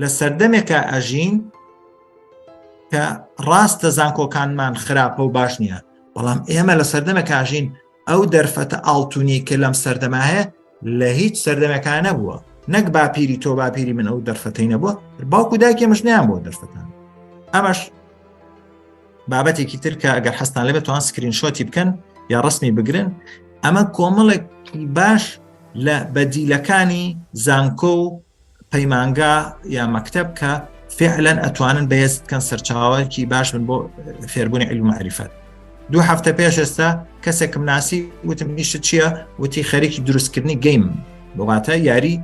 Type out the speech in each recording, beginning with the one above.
لە سەردەمێکا ئەژین کە ڕاستە زانکۆکانمان خراپە و باش نییە بەڵام ئێمە لە سەردەمە کاژین ئەو دەرفەتە ئاڵتونی کە لەم سەردەما هەیە لە هیچ سەردەمەکان نەبووە نەک باپیری تۆ باپیری من ئەو دەرفەتەی نەبووە باوکو داکێ مشنیان بۆ دەرفەتان ئەمەش بابەتێکی تر کە ئەگەر حەستان لەبێت توان سکرین شۆتی بکەن یا ڕسمی بگرن ئەمە کۆمەڵێک باش لە بەدیلەکانی زانکۆ و پەیمانگا یا مەکتب کە فعلەن ئەتوانن بەهێز بکەن سەرچاوەکی باش من بۆ فێربوونی علم معریفەت دوو هەفتە پێش ئێستا کەسێکم ناسی وتم نیشت چییە وتی خەرێکی دروستکردنی گەیم بۆباتە یاری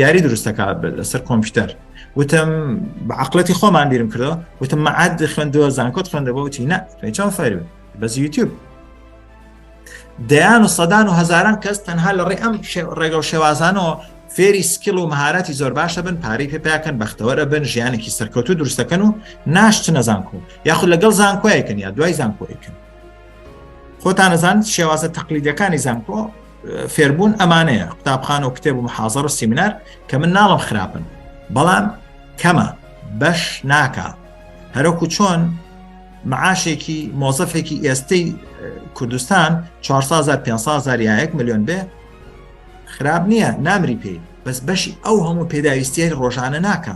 یاری دروستەکە لەسەر کۆمپیوتەر وتم بە عقلەتی خۆمان بیرم کردەوە وتم مەعاد خوێندوە زانکۆت خوێندەوە وتی نە توێ چاو فەرو بەس یوتیوب دەیان و سەدان و هزاران کەس تەنها لە ڕێ ئەم ڕێگە و شێوازانەوە فێری سکیل و مهارەتی زۆر باشە بن پارەی پێپیاکەن بەختەوەرە بن ژیانێکی سەرکەوتو دروستەکەن و ناشتنە زانکۆ یاخود لەگەڵ زانکۆیەکەن یا دوای زانکۆیکن خۆتانەزان شێوازە تەقلیدەکانی زانکۆ فێربوون ئەمانەیە قوتابخان و کتێب و محازڕ و سیمینار کە من ناڵم خراپن بەڵام کەمە بەش ناکە هەرۆکو چۆن معاشێکی مۆزەفێکی ئێستەی کوردستان 4 یاەک میلیۆن بێ خراپ نییە نامری پێی بەس بەشی ئەو هەموو پێداویستیە ڕۆژانە ناکە